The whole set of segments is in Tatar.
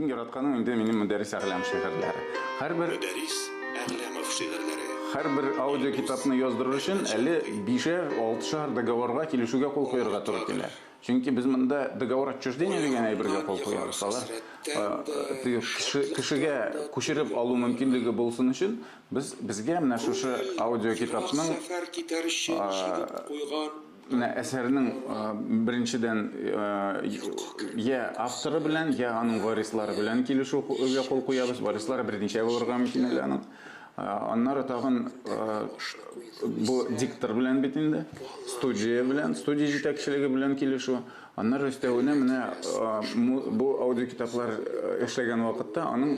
Иң яратканым инде минем Мөдәрис Әгъләм шигырьләре. Һәрбер Мөдәрис Әгъләмов шигырьләре. Һәрбер аудио китапны яздырыр өчен әле бишәр, алтышар договорга килешүгә кул куярга туры килә. Чөнки без монда договор отчуждения дигән әйбергә кул куябыз. Алар э, кешегә күчереп алу мөмкинлеге булсын өчен без безгә менә шушы аудио китапның сәфәр китәр өчен куйган Менә әсәрнең беренчедән я авторы белән, я аның варислары белән килешүгә кул куябыз. Варислары берничә булырга мөмкин әле аның. Аннары тагын бу диктор белән бит инде, студия белән, студия җитәкчелеге белән килешү. Аннары өстәвенә менә бу аудиокитаплар эшләгән вакытта аның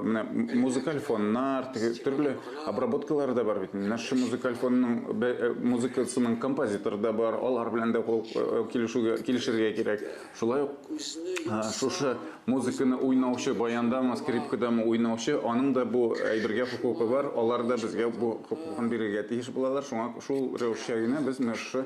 менә музыкаль фоннар, теге төрле обработкалары да бар бит. Менә шушы музыкаль фонның музыкасының композиторы да бар, алар белән дә килешүгә, килешергә кирәк. Шулай ук шушы музыканы уйнаучы, баяндамы, скрипкадамы уйнаучы, аның да бу әйбергә хокукы бар, алар да безгә бу хокукын бирергә тиеш булалар. Шуңа шул рәвешчә генә без менә шушы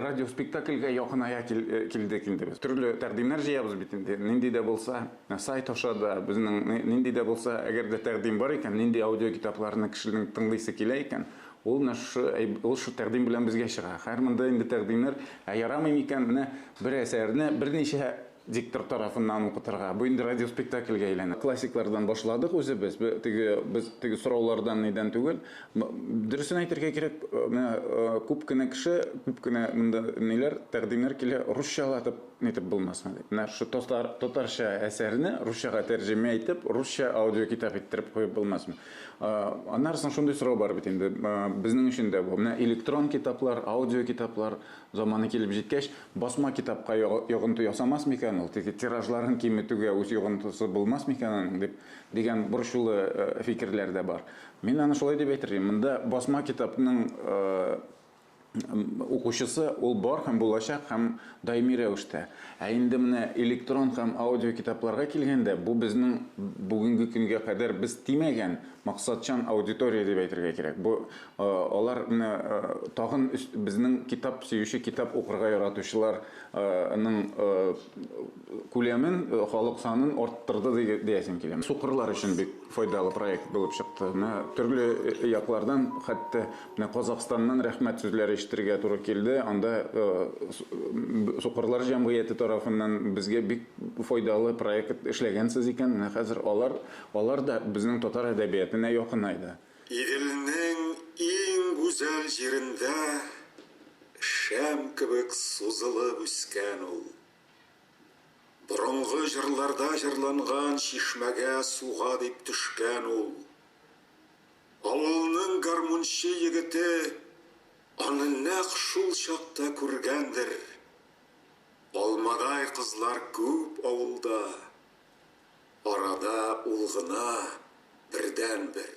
Радиоспектакльгә якыная килдек инде без. Төрле тәкъдимнәр җыябыз бит инде. Нинди дә булса, сайт аша да, безнең нинди дә булса, әгәр дә тәкъдим бар икән, нинди аудиокитапларны кешенең тыңлыйсы килә икән, ул менә шушы, ул шул тәкъдим белән безгә чыга. Хәер, монда инде тәкъдимнәр, ә ярамый микән, менә бер әсәрне берничә Диктор тарафыннан укытырга. Бу инде радиоспектакльгә әйләнә. Классиклардан башладык үзебез. Бе, теге, без теге сораулардан нидән түгел. М, дөресен әйтергә кирәк, менә күп кенә кеше, күп кенә монда ниләр, тәкъдимнәр килә, русчалатып нитеп булмасмы дип. Менә шу татар, татарча әсәрне русчага тәрҗемә итеп, русча аудиокитап иттереп куеп булмасмы? Э, аннары соң шундый сорау бар бит инде, э, безнең өчен дә бу. Менә электрон китаплар, аудиокитаплар заманы килеп җиткәч, Басма китапка йогынты ясамас микән ул, теге тиражларын киметүгә үз йогынтысы булмас микән аның дип, дигән борчулы фикерләр дә бар. Мин аны шулай дип әйтер идем, монда басма китапның укучысы ул бар һәм булачак һәм даими рәвештә. Ә инде менә электрон һәм аудиокитапларга килгәндә, бу безнең бүгенге көнгә кадәр без тимәгән максатчан аудитория дип әйтергә кирәк. Бу Алар тагын безнең китап сөюче, китап укырга яратучылар ның күләмен, халык санын арттырды диясем килә. Сукырлар өчен бик файдалы проект булып чыкты. Менә төрле яклардан, хәтта менә Казакъстаннан рәхмәт сүзләре ишетергә туры килде. Анда Сукырлар җәмгыяте тарафыннан безгә бик файдалы проект эшләгәнсез икән, менә хәзер алар, алар да безнең татар әдәбиятына якынайды. Иделнең иң гүзәл җирендә шәм кебек сузылып үскән ул. Борынгы җырларда җырланган чишмәгә суга дип төшкән ул. Авылның гармунчы егете аны нәкъ шул чакта күргәндер. Алмадай кызлар күп авылда, арада ул гына бердәнбер.